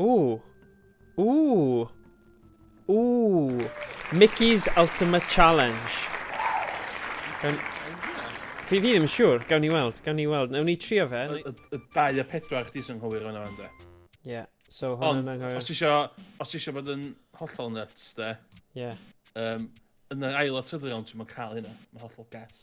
Ooh. Ooh. Ooh. Mickey's Ultimate Challenge. Gawn... Fi, fi ddim yn siŵr, gawn ni weld, gawn ni weld. Nawn ni trio fe. Y, y, y dau a pedwar chdi sy'n hwyr yna, ynddo. Ie. Yeah. So, hwn yn anghywir. Os isio, os isio bod yn hollol nuts, de. Ie. Yeah. Um, yn yr ail o tyddion, ti'n mynd cael hynna. Mae'n hollol gas.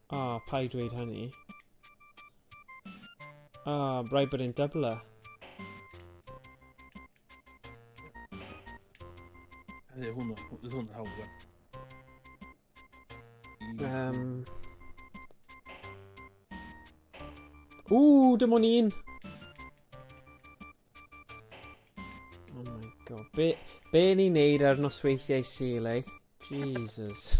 Ah, oh, paid dweud hynny. Ah, oh, rhaid bod e'n dybler. Hynny, hwn, hwn, hwn, hwn, Um... Ooh, dim ond un! Oh my god, be, be ni'n neud ar nosweithiau Sul, eh? Jesus.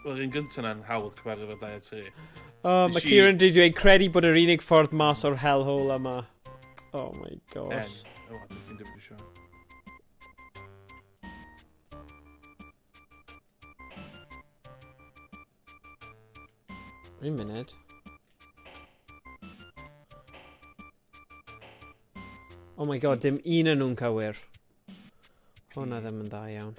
Yr un gyntaf na'n hawdd cyfarfod efo 2 a 3. O, oh, mae Kieran wedi dweud credu bod yr unig ffordd mas o'r hellhole yma. Oh my gosh. En. O, dwi'n ffyn dim eisiau. Un munud. Oh my god, dim un yn nhw'n cywir. Hwna ddim yn dda iawn.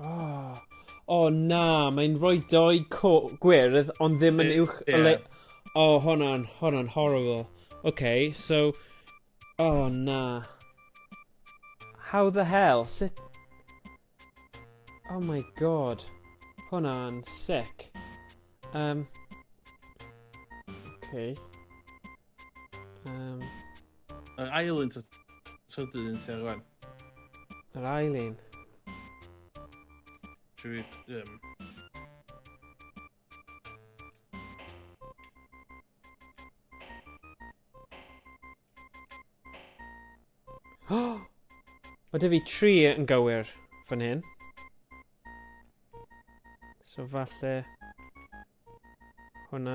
Oh. oh, na, mae'n rhoi doi gwyrdd, ond ddim yn uwch... Yeah. Le... Oh, hwnna'n, hwnna'n horrible. Okay, so... Oh, na. How the hell? Sut... Oh my god. Hwnna'n sick. Um... Okay. Um, Yr ail un tydy un ti ar rwan. Yr ail un? Dwi fi... Um, Mae dy fi tri yn gywir fan hyn. So falle hwnna.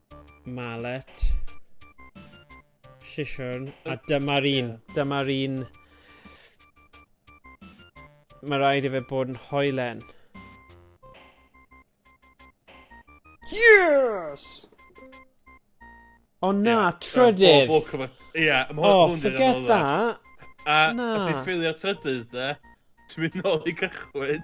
Mallet. Siswrn. A dyma'r un. Yeah. Dyma'r un. Mae rhaid i fe bod yn hoelen. Yes! O oh, na, yeah, trydydd! O, oh, yeah, oh, forget that! A, na. os i ffilio trydydd, de, ti'n mynd nôl i gychwyn.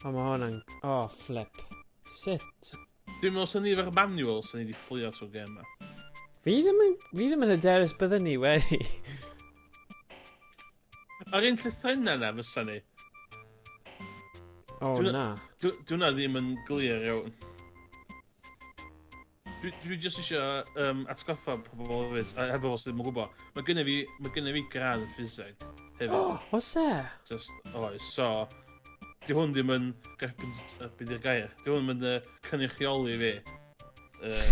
O, mae hwn yn... O, oh, flip. Sut? Dwi'n meddwl sy'n ni efo'r manual sy'n ni wedi fflio trwy gem yma. Fi ddim yn, fi ddim yn hyderus byddwn ni wedi. Ar un llythrenna na fysa ni. O oh, na. Dwi'n na ddim yn glir iawn. Dwi, dwi just eisiau um, atgoffa pobl o fyd, a heb os ddim yn gwybod. Mae gynnu fi, mae gynnu fi gradd yn ffiseg. Hefyd. Oh, os e? Just, oes, so... Di hwn ddim yn... Byd i'r gair. Di hwn ddim yn uh, cynrychioli fi. Uh,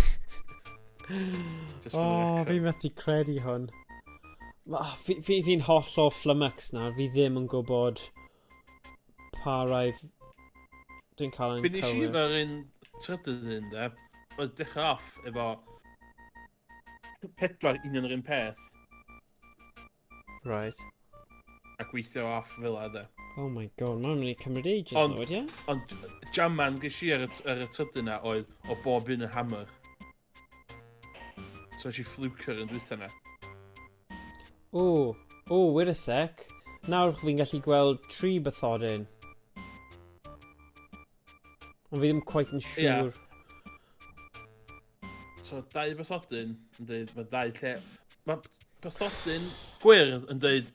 oh, fi methu credu hwn. Fi'n fi, fi holl o flumux nawr, fi ddim yn gwybod Pa rai... Dwi'n cael yn cywir. Finish i fel un trydydd un de. Oedd dechrau off efo... Pedwar un yn yr un peth. Right. A gweithio off fel a de. Oh my god, mae'n mynd i cymryd ages ond, nawr, ie? Ond jaman gysi ar y, ar y tydyn na oedd o bob un yn hammer. So eisiau fflwcio yn dwytha na. O, o, wyr y sec. Nawr fi'n gallu gweld tri bythorin. Ond fi ddim quite yn siŵr. Yeah. So, dau bythodyn yn dweud, mae dau lle... Mae bythodyn gwyrdd yn dweud,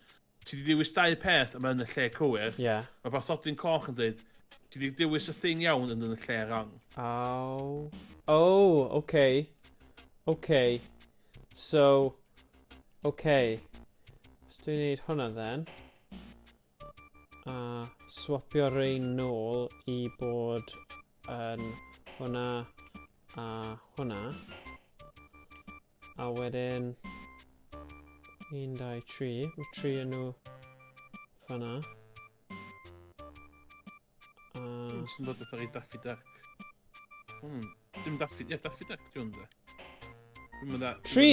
Ti 'di dewis dau peth a mae yn y lle cywir. Ie. Yeah. Mae bathodyn coch yn dweud, ti 'di dewis y thing iawn yn yn y lle rong. Aw. Oh, okay. Okay. So, okay. Os dwi'n neud hwnna then, a swapio rein nôl i bod yn hwnna a hwnna, A wedyn... 1, 2, 3. Mae 3 yn nhw fanna. A... Dwi'n sy'n dod fatha i Daffy Duck. Hmm. Dim Daffy... Ie, Daffy Duck, dwi'n dda. Dwi'n dda... Tri!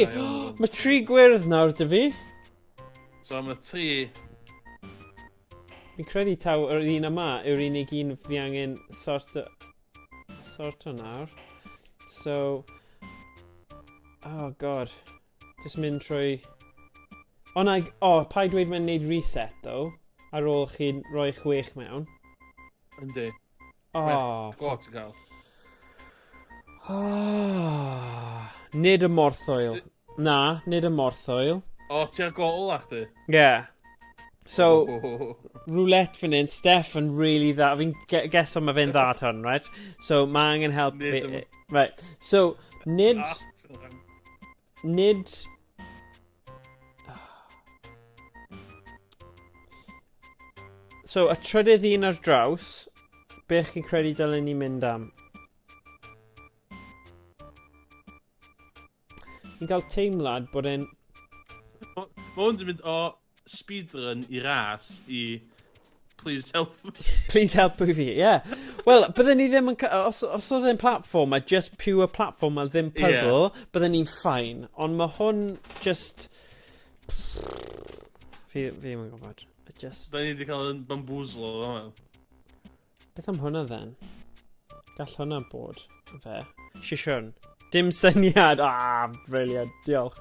Mae tri gwyrdd nawr, dy fi. So, mae tri... Fi'n credu taw yr un yma yw'r unig un fi angen sort o... Sorto nawr. So... Oh god. Just mynd trwy... O na, o, oh, pa i dweud mae'n neud reset, though, ar ôl chi'n rhoi chwech mewn. Yndi. O, oh, Gwod ti'n cael. Oh, nid y morthoel. Na, nid y morthwyl. O, ti ar gol a chdi? Yeah. So, roulette fan hyn, Steph yn really dda. Fi'n geso mae fe'n dda ton, right? So, mae angen help fi. Right. So, nid... Ah, nid So, y trydydd un ar draws, be chi'n credu dylen ni mynd am? Fi'n cael teimlad bod e'n... Mae hwn wedi mynd o speedrun i ras i... Please help me. Please help me fi, ie. Yeah. Wel, bydden ni ddim yn... Os, os oedd e'n platform, a just pure platform a ddim puzzle, yeah. bydden ni'n ffain. Ond mae hwn just... Fi, fi ddim yn gwybod. Just... Da ni wedi cael yn bamboozle o hwnna. Beth am hwnna then? Gall hwnna bod yn fe. Sisiwn. Dim syniad! Ah, briliant. Diolch.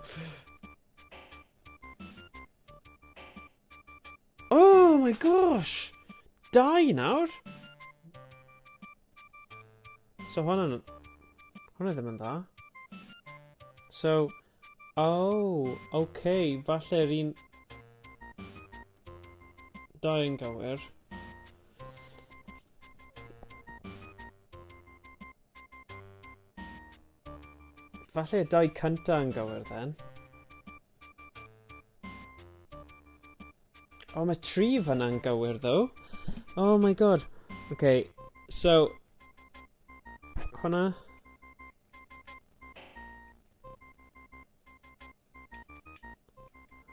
Oh my gosh! Dau nawr? So hwnna'n... Hwnna ddim yn dda. So, Oh, ok, falle'r un... Da yn gywir. Falle dau cynta yn gywir then. Oh, mae tri fyna'n gywir though. Oh my god. Okay, so... Hwna.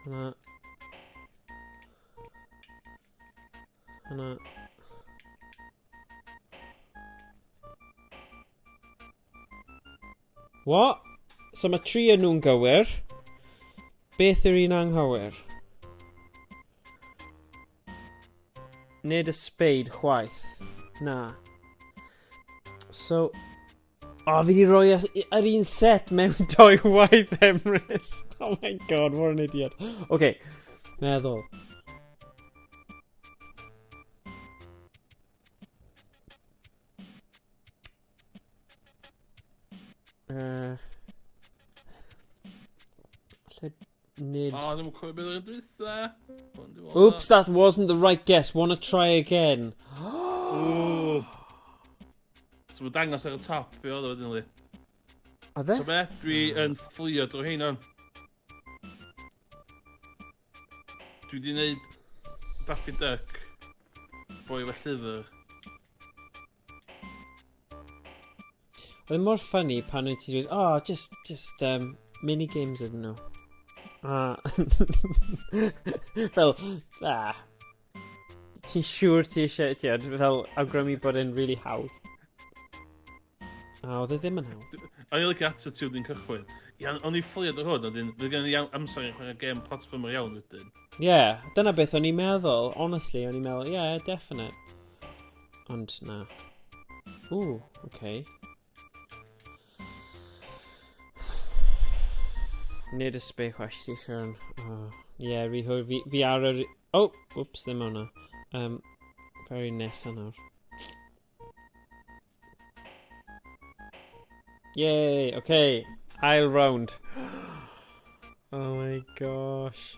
Hwna. Hwna. What? So mae tri yn nhw'n gywir. Beth yw'r un anghywir? Nid y speid chwaith. Na. So, O, fi di roi yr un set mewn doi waith Emrys. Oh my god, what an idiot. Oce, okay, meddwl. Uh, Nid. O, ddim yn cofio beth oedd dwytha. Oops, that wasn't the right guess. Wanna try again. Ooh. So mae dangos ar y top, be oedd o wedyn li? A fe? So be, dwi yn fflio drwy hyn o'n. Dwi di wneud Daffy Duck, boi fe llyfr. Oedd e mor funny pan oedd ti dweud, oh, just, just, um, mini games ydyn nhw. A... fel, a... Ti'n siŵr ti eisiau, ti oedd, fel awgrymu bod e'n really hawdd. A oedd e ddim yn hawdd. O'n i'n lygu ato ti wedi'n cychwyn. Iawn, o'n i'n ffoliad o hwn, wedyn, fe gen i amser i chwarae gem platformer iawn wedyn. Ie, yeah, dyna beth o'n i'n meddwl, honestly, o'n i'n meddwl, ie, yeah, definite. Ond na. Ww, oce. Okay. Nid y sbeu chwaith sy'n siarad. Oh, yeah, rhi hwyr. Fi, fi ar yr... Oh, whoops, ddim o'na. Um, very nesa nawr. Yay, okay. Ail round. oh my gosh.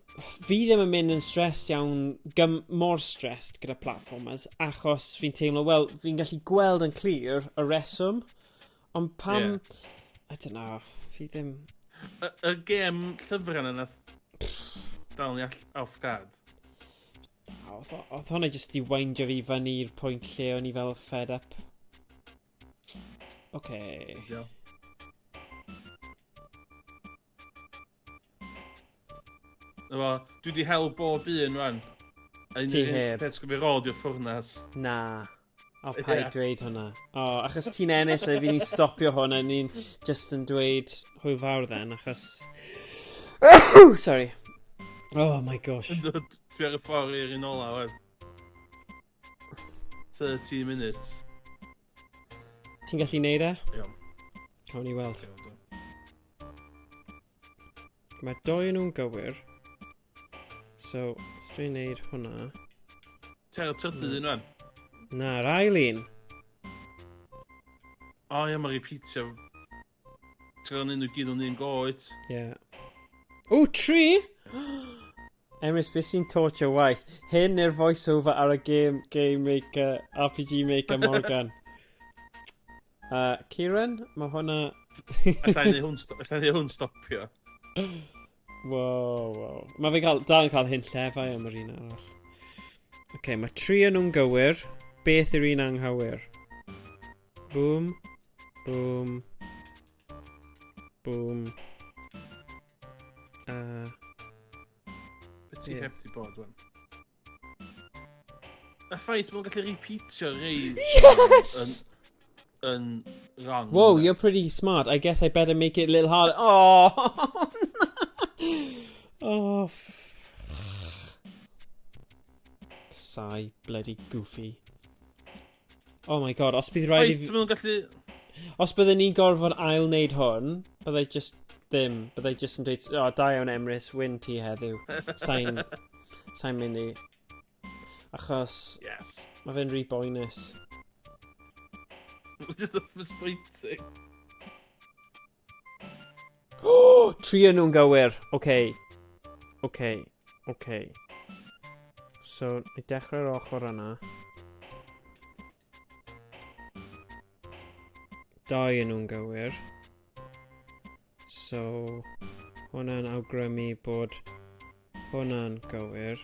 fi ddim yn mynd yn stressed iawn, gym, mor stressed gyda platformers, achos fi'n teimlo, wel, fi'n gallu gweld yn clir y reswm, ond pam... Yeah. I don't know, fi ddim... Y, y gem llyfrau yna dal ni all off guard. Oedd, oedd hwnna jyst i weindio fi fyny i'r pwynt lle o'n i fel fed up. Oce. Okay. Efo, dwi wedi hel bob un rwan. Ti heb. Peth sgwyd fi rôl di'r ffwrnas. Na. O, pa i dweud hwnna. O, achos ti'n ennill le, fi'n ni'n stopio hwn a ni'n just yn dweud hwy fawr then, achos... Sorry. Oh my gosh. Dwi ar y ffordd i'r un ola, wan. 30 minutes. Ti'n gallu neud e? Iawn. Cawn ni weld. Mae doi nhw'n gywir. So, os dwi'n neud hwnna... Ti'n cael tybu un fan? Na, yr ail un. O ie, mae repeatio. Ti'n gweld nhw gyd o'n un goed. Ie. Yeah. O, tri! Emrys, beth sy'n torture waith? Hyn neu'r voiceover ar y game, game maker, RPG maker Morgan? uh, Kieran, mae hwnna... Alla i neud hwn stopio. Wow, wow. Mae fe cael, dal yn cael hyn llefau am yr un arall. Oce, okay, mae tri yn nhw'n gywir. Beth yw'r un anghywir? Boom. Boom. Boom. A... Be ti heb ti bod, wen? Y ffaith mae'n gallu repeatio rei... Yes! Yn, yn wrong. Whoa, you're pretty smart. I guess I better make it a little harder. Oh! oh, Sai, bloody goofy. Oh my god, os bydd rhaid i fi... Wyt gallu... Os byddwn ni'n gorfod ail wneud hwn, byddai just ddim. Byddai just yn dweud, o, oh, da iawn Emrys, wyn ti heddiw. Sain... Sain mynd i. Achos... Yes. Mae fe'n rhy boenus. Mae'n just a frustrating. Oh, tri yn nhw'n gywir. Oce. Okay. Oce. Okay. Oce. Okay. So, ni dechrau'r ochr yna. Dau yn nhw'n gywir. So, hwnna'n awgrymu bod hwnna'n gywir.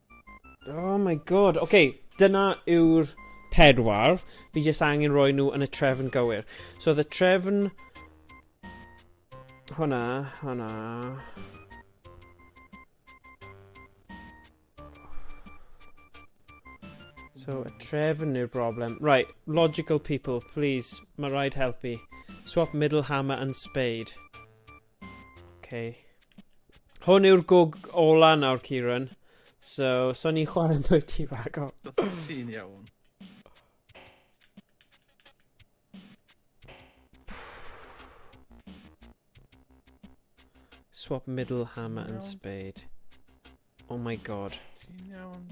Oh my god. Oce, okay, dyna yw'r pedwar. Fi jyst angen rhoi nhw yn y trefn gywir. So the trefn... Hwna, hwna... So, y trefn yw'r broblem. Right, logical people, please, mae rhaid helpu. Swap middle hammer and spade. Okay. Hwn yw'r gog ola nawr, Kieran. So, so ni'n chwarae yn dweud ti fago. Ti'n iawn. Swap middle hammer and spade. Oh my god. Ti'n iawn?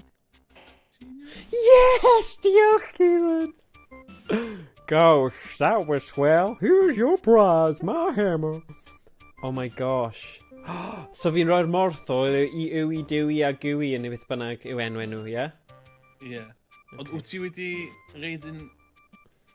Ti'n iawn? Yes! Diolch, Kieran! Gosh, that was swell. Here's your prize, my hammer. Oh my gosh. so fi'n rhoi'r morth o i ywi, dewi a gwi yn ei beth bynnag yw enw enw, ie? Yeah? Ie. Yeah. Okay. Ond wyt ti wedi reid yn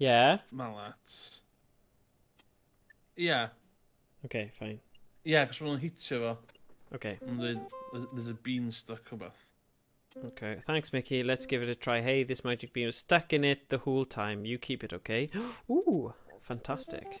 Ie. Yeah. Malat. Ie. Yeah. Oce, okay, ffain. Ie, yeah, cos mae'n hitio fo. Oce. Okay. Mae'n dweud, there's a bean stuck o beth. Okay, thanks Mickey. Let's give it a try. Hey, this magic bean was stuck in it the whole time. You keep it, okay? Ooh, fantastic.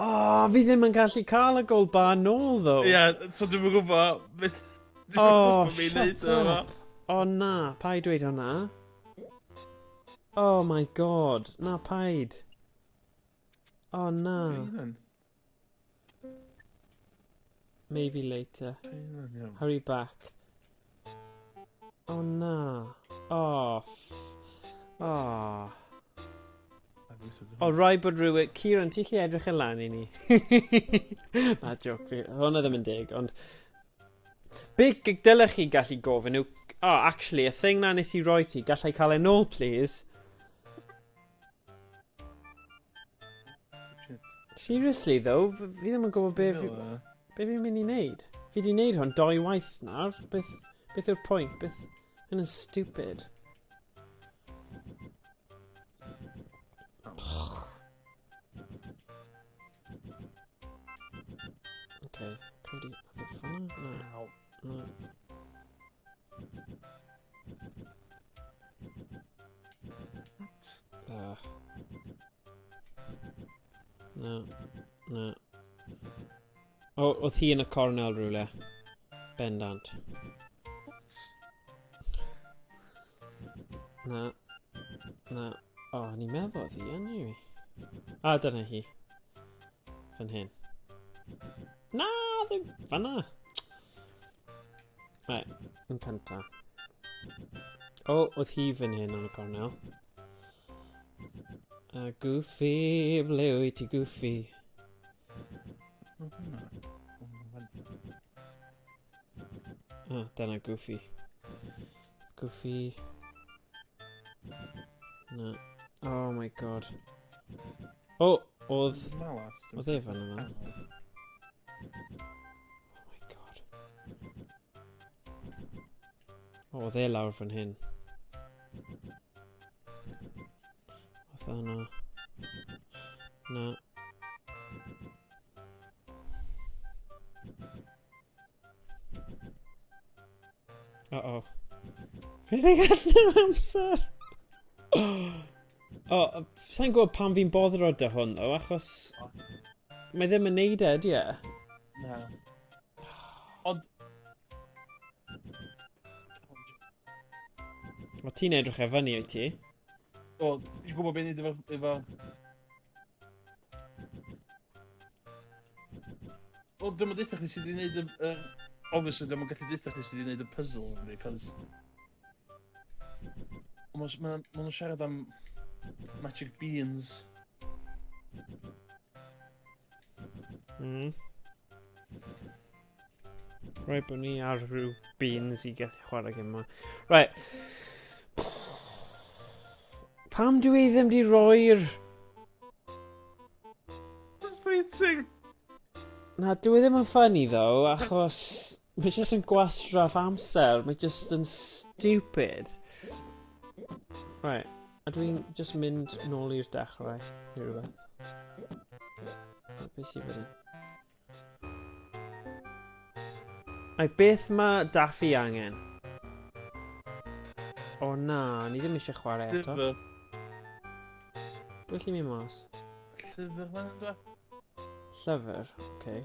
Oh, fi ddim yn gallu cael y gold bar nôl, ddo. Ie, yeah, so dwi'n yn gwybod... Dwi'n oh, shut up. O oh, na, pa i dweud hwnna? Oh my god, na paid. Oh na. Maybe later. Hurry back. Oh na. Oh. Oh. O, rai bod rhywun... Kieran, ti'n lle edrych yn lan i ni? na, joc fi. Hwna ddim yn deg, ond... Be dylech chi gallu gofyn yw... Oh, actually, y thing na nes i roi ti, gallai cael ei nôl, please? Seriously though, fi ddim yn gwybod be fi... Be fi'n mynd i wneud? Fi di wneud hwn doi waith nawr. Beth, beth yw'r pwynt? Beth... Hyn yn stupid. Okay, codi... Oedd y ffôn? Na. Na. Ah. Na, na. O, oedd hi yn y cornel rhywle. Bendant. Na. Na. O, oh, ni'n meddwl oedd hi yn i. A, dyna hi. Fan hyn. Na, ddim fanna. Right, yn cynta. O, oh, oedd hi fan hyn yn y cornel. A uh, Goofy, ble wyt ti Goofy? Ah, dyna Goofy. Goofy. Na. Oh my god. O, oh, oedd... Oedd e fan yna. Oh my god. O, oh, dde lawr fan hyn. Fatha yna. Na. Uh-oh. Rhedeg allan o amser! O, oh, sa'n gwybod pam fi'n boddro da hwn, o, achos... Mae ddim yn neud e, di e? Na. Ond... Mae ti'n edrych e fyny o'i ti? O, ti'n gwybod beth ni'n dweud efo... O, dwi'n mynd eitha chi sydd wedi'i gwneud y... Obviously, dwi'n mynd gallu eitha chi sydd wedi'i gwneud y puzzles, cos... Ond os ma' ma' nhw'n siarad am magic beans. Mm. Rhaid bod ni ar rhyw beans i gallu chwarae gym yma. Right. Pam dwi i ddim di roi'r... Frustrating. Na, dwi e ddim yn ffynnu ddo, achos... Mae jyst yn gwastraff amser. Mae jyst yn stupid. Right. A dwi'n jyst mynd nôl i'r dechrau neu rhywbeth. Be sy'n fan Ai beth mae Daffy angen? O na, ni ddim eisiau chwarae eto. Llyfr. Dwi'n lli mi mas. Llyfr fan Llyfr, oce. Okay.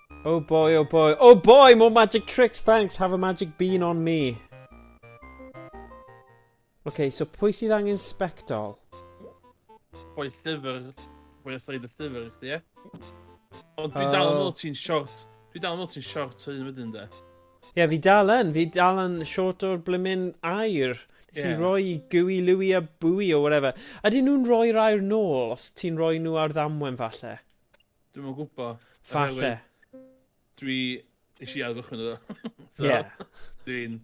Oh boy, oh boy. Oh boy, more magic tricks, thanks. Have a magic bean on me. Okay, so pwy sydd angen spectol? Pwy llyfr. Pwy os oed y llyfr, chdi, ie? Ond dwi dal yn meddwl ti'n short. Dwi dal yn meddwl ti'n short hyn wedyn, de. Ie, yeah, fi dal yn. Fi dal yn short o'r blymun air. Nes yeah. i roi gwy, lwy a bwy o whatever. Ydyn nhw'n rhoi'r air nôl os ti'n rhoi nhw ar ddamwen falle? Dwi'm yn gwbo. Falle. Dwi eisiau i ail gychwyn iddo. so, yeah. Dwi'n...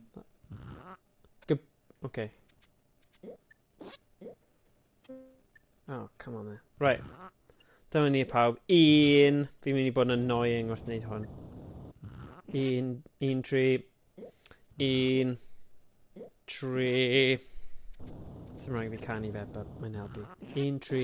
Gyb... Okay. Oh, come on there. Right. Dyma ni pawb. Un... Fi'n mynd i bod yn annoying wrth wneud hwn. Un... Un tri. Un... Tri... Dim rhaid i fi canu fe, but mae'n helpu. Un tri...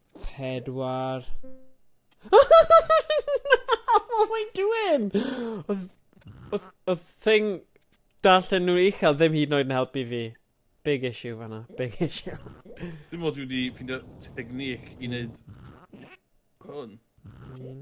Pedwar. What am I doing? Oedd... Oedd... Oedd thing... Darllen nhw uchel ddim hyd yn oed yn helpu fi. Big issue fanna. Big issue. Dim ond dwi wedi ffindio technic i wneud hwn. Un.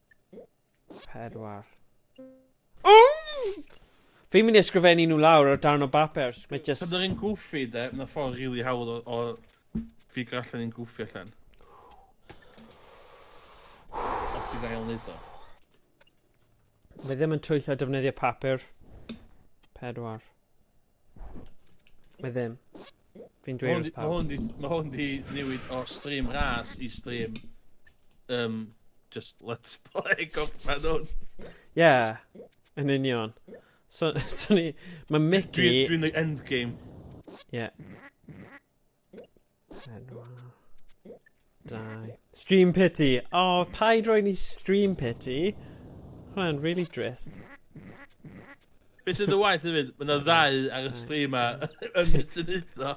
Pedwar. Fi'n mynd i ysgrifennu nhw lawr ar darn o bapur. Mae just... Pan dwi'n gwffi de, mae'n ffordd rili really hawdd o, o ffigur allan i'n gwffi allan. Os ti'n gael neud o. Mae ddim yn twyllo defnyddio papur. Pedwar. Mae ddim. Fi'n dweud wrth pawb. Mae hwn di, ma hwn di newid o stream ras i stream... Um, just let's play gorffen hwn. Ie, yn union. So, so ni... Mae Mickey... Dwi'n dwi endgame. Ie. Yeah. Dau. Stream pity. O, oh, paid roi ni stream pity. Mae'n really drist. Be sydd y waith hefyd? Mae'n yna ddau ar y stream a yn mynd yn udo.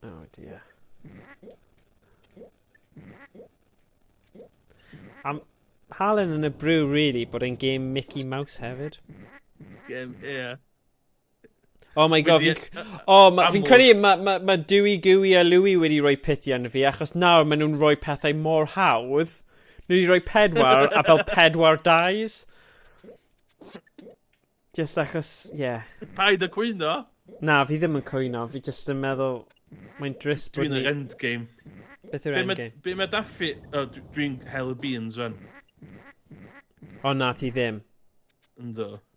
Oh dear. Am Halen yn y brew really, bod e'n game Mickey Mouse hefyd. Game, ie. Yeah. Oh my god, fi'n... O, oh, ma, fi'n credu, mae ma, ma Dewey, Gooey a Louie wedi rhoi piti yn fi, achos nawr maen nhw'n rhoi pethau mor hawdd. Nhw wedi rhoi pedwar, a fel pedwar dies. Just achos, ie. Yeah. Paid y cwyno? Na, fi ddim yn cwyno, fi just yn meddwl, mae'n dris bod ni... Dwi'n yr endgame. Beth yw'r endgame? Be mae Daffy... Oh, dwi'n hel y beans, fan. O na, ti ddim. Ynddo.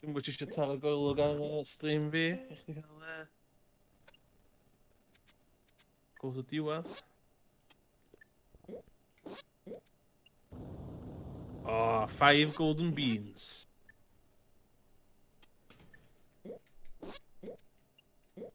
Dwi'n gwybod eisiau taro goelwg ar y stream fi, i chdi cael e. Gwrs y diwedd. Oh, five golden beans.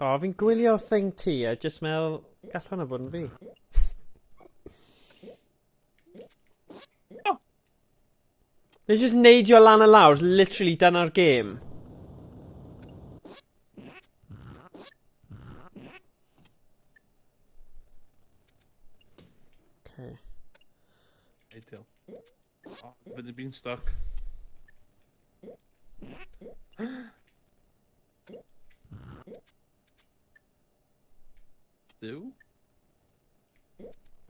O, oh, fi'n gwylio thing ti a jyst meddwl, gall hwnna bod yn fi. Oh. Nes jyst neidio lan y lawr, literally dyna'r gêm. Fydd y beanstalk. Duw?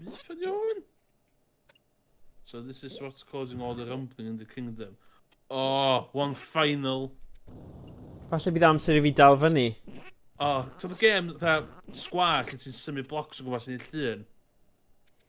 Beth ydw iawn? So this is what's causing all the rumbling in the kingdom. Oh, one final. Falle bydd amser i fi dal fyny. Oh, ti'n y gêm, dda, sgwar, lle ti'n symud blocs o gwmpas i'n llun?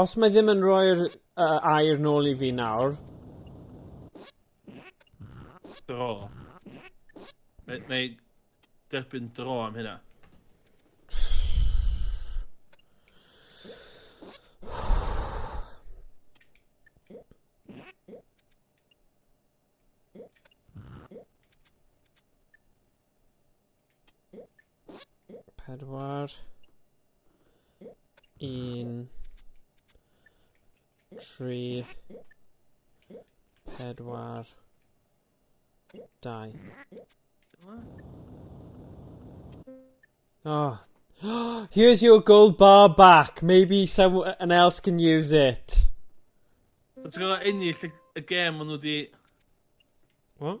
Os mae ddim yn rhoi'r uh, air nôl i fi nawr... Dro. Mae, mae derbyn dro am hynna. Pedwar. Un. Tri. Pedwar. Dau. Oh. Here's your gold bar back. Maybe someone else can use it. Ti'n gwybod ennill y gêm maen nhw wedi... What?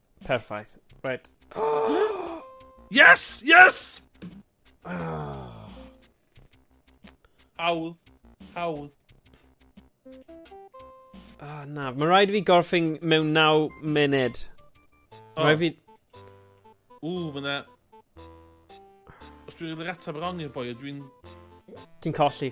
Perffaith. Right. yes! Yes! Hawdd. Hawdd. Ah, na. Mae rhaid i fi gorffing mewn 9 munud. Oh. Rhaid fi... Ww, mae na... Os dwi'n rhaid ateb wrong i'r boi, dwi'n... Ti'n colli.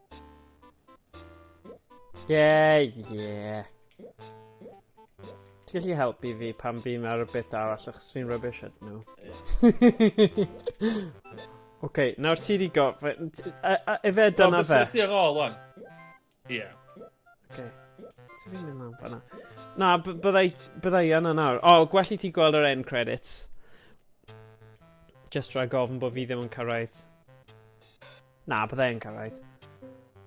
Yeah, yeah. Ti'n gallu helpu fi pan fi'n ar y bit arall achos fi'n rubbish at nhw. Oce, okay, nawr ti di gof... Efe dyna fe. Ti'n ar ôl o'n? Ie. Oce. Ti'n fi'n mynd lan fanna. Na, byddai, byddai yna nawr. O, oh, gwell i ti gweld yr end credits. Just rhaid gofyn bod fi ddim yn cyrraedd. Na, bydda i'n cyrraedd.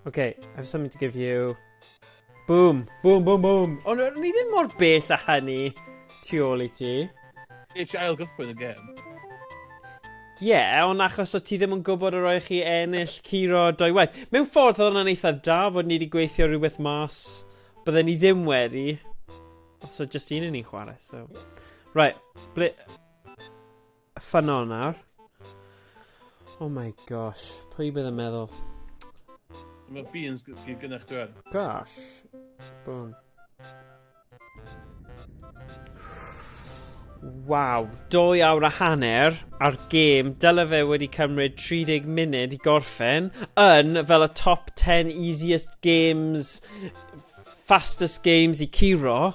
Okay, I have something to give you. Boom, boom, boom, boom. Ond oh, ni ddim mor bell a hynny tu ôl i ti. Eich ail gychwyn y gem. Ie, yeah, ond achos o ti ddim yn gwybod yr oeddech chi ennill curo doi waith. Mewn ffordd oedd hwnna'n eitha da fod ni wedi gweithio rhywbeth mas. Bydden ni ddim wedi. Os oedd just un yn ni'n chwarae, so. Right, ble... Ffynno nawr. Oh my gosh, pwy bydd yn meddwl? Mae beans gyd gynna'ch dweud. Gosh. Boom. Waw, dwy awr a hanner ar gêm, dyle fe wedi cymryd 30 munud i gorffen, yn fel y top 10 easiest games, fastest games i curo.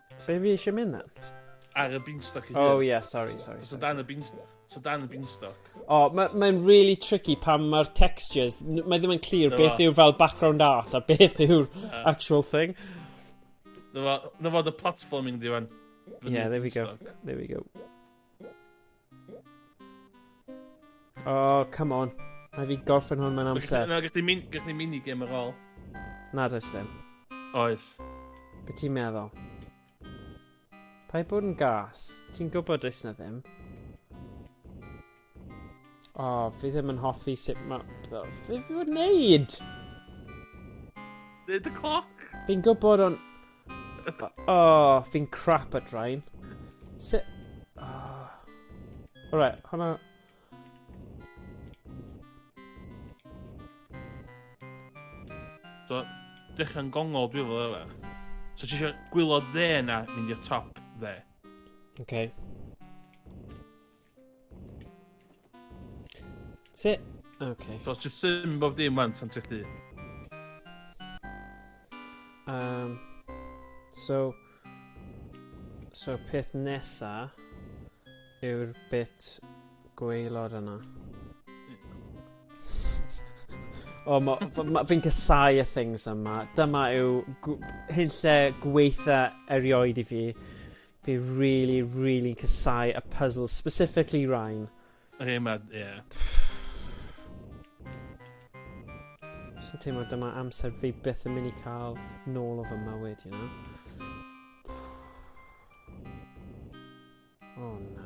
Be fi eisiau mynd na? Ar y beanstalk i Oh, yeah, sorry, sorry. So dan y beanstalk. So dan y beanstalk. O, oh, mae'n ma really tricky pan mae'r textures, mae ddim yn clir beth yw fel background art a beth yw'r yeah. actual thing. Dyma fod y platforming diwan. Yeah, there we go. There we go. Oh, come on. Mae fi gorffen hwn mewn amser. Na, gallwn ni gall ni mini gem ar ôl. Na, does ddim. Oes. Be ti'n meddwl? Pa i bod yn gas? Ti'n gwybod does na ddim? O, oh, fi ddim yn hoffi sut mae... Fe fi fod wneud! Dweud y cloc! Fi'n gwybod ond... Oh, fi'n crap at rhain. Se... Oh. Alright, hwnna... So, dechrau'n gongol dwi'n fel efe. So ti eisiau gwylod dde na mynd i'r top dde? Okay. Sit. Okay. So just syn bob dim wan tan ti'n Um, so, so peth nesa yw'r bit gweilod yna. o, oh, ma, ma, fi'n casau y things yma. Dyma yw hyn lle gweitha erioed i fi. Fi really, really casau y puzzle, specifically Ryan. Ie, ma, ie. Just yn teimlo dyma amser fi byth yn mynd i cael nôl o fy mywyd, you know? O, oh, na.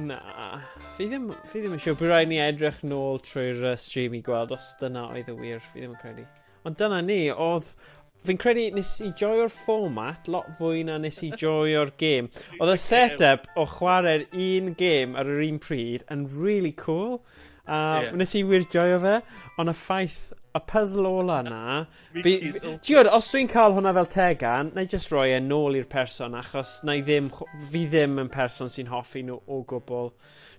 Na, fi ddim, fi ddim yn siŵr. Bydd rhaid ni edrych nôl trwy'r uh, stream i gweld os dyna oedd y wir. Fi ddim yn credu. Ond dyna ni, oedd... Fi'n credu nes i joio'r format lot fwy na nes i joio'r gêm. Oedd y set-up o chwarae'r un gêm ar yr un pryd yn really cool. A yeah. nes i wir joio fe, ond y ffaith, y puzzle ola na, Fi fi t'wod os dwi'n ca'l hwnna fel tegan nâi jyst roi e nôl i'r person achos nâi ddim chw- fi ddim yn person sy'n hoffi nhw o gwbwl.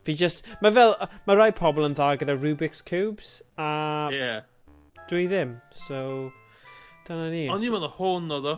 Fi jyst ma' fel yy ma' rai pobl yn dda gyda Rubik's Cubes a... Ie. ...dwi ddim so dyna ni. O'n i'n meddwl hwn odd o.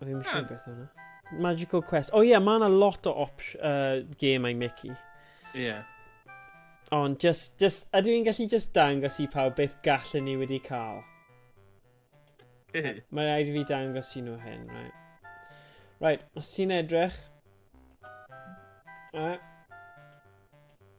O, fi'n siŵr beth yna. Magical Quest. O oh, ie, yeah, mae yna lot o opsh, uh, game I Mickey. Ie. Yeah. Ond just, just, ydw i'n gallu just dangos i pawb beth gallen ni wedi cael? Mae rhaid i fi dangos i nhw hyn, right? Right, os ti'n edrych... Uh,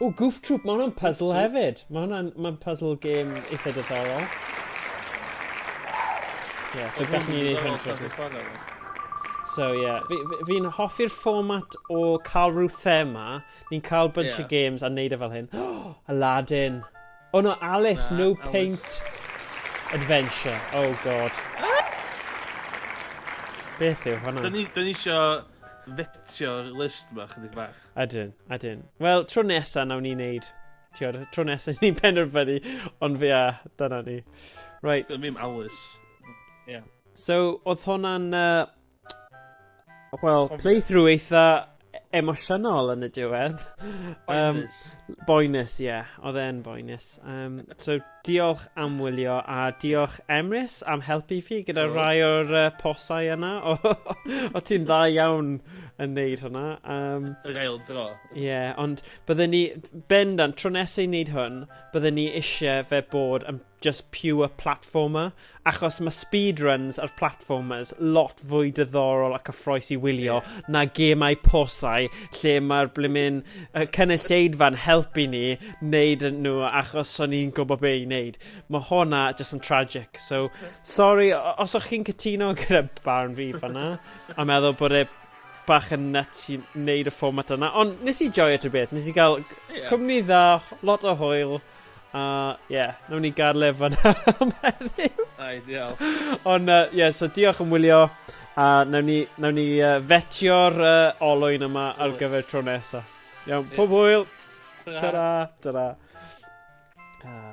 O, Goof Troop, mae hwnna'n puzzle hefyd. Mae hwnna'n ma puzzle game eitha diddorol. Ie, yeah, so gallwn ni wneud hyn trwy. So ie, yeah. fi'n fi, fi hoffi'r fformat o cael rhyw thema, ni'n cael bunch yeah. of games a wneud e fel hyn. Oh, Aladdin. Oh no, Alice, nah, no Alice. paint. Adventure, oh god. Beth yw hwnna? Dyn ni eisiau fetio'r list yma chydig bach. Ydyn, ydyn. Wel, tro nesa nawn ni'n neud. Tiwr, tro nesa ni'n penderfynu, ond fe a, dyna ni. Right. Dwi'n mynd alwys. Yeah. So, oedd hwnna'n... Uh, Wel, playthrough eitha emosiynol yn y diwedd. Boenus. Um, boenus, ie. Yeah. Oedd e'n boenus. Um, so, Diolch am wylio a diolch Emrys am helpu fi gyda oh. rai o'r uh, posau yna. O, o ti'n dda iawn yn neud hwnna. Um, Yr ail dro. Ie, yeah, ond byddwn ni, bendant, tro nesau i wneud hwn, byddwn ni eisiau fe bod yn just pure platformer. Achos mae speedruns a'r platformers lot fwy diddorol a cyffroes i wylio yeah. na gemau posau lle mae'r blimyn uh, cynulleidfa'n helpu ni wneud nhw achos so ni'n gwybod be i wneud. Mae hwnna just yn tragic. So, sorry, os o'ch chi'n cytuno gyda barn fi fanna, a meddwl bod e bach yn nut i wneud y fformat yna. Ond nes i joio ti beth, nes i gael yeah. cwmni dda, lot o hwyl, A ie, yeah, nawn ni garlef fanna am heddiw. Ideal. Ond uh, yeah, so diolch yn wylio. A nawn ni, nawn ni uh, fetio'r uh, olwyn yma ar gyfer tro nesa. Iawn, pob hwyl. Ta-ra. Ta-ra. Ah.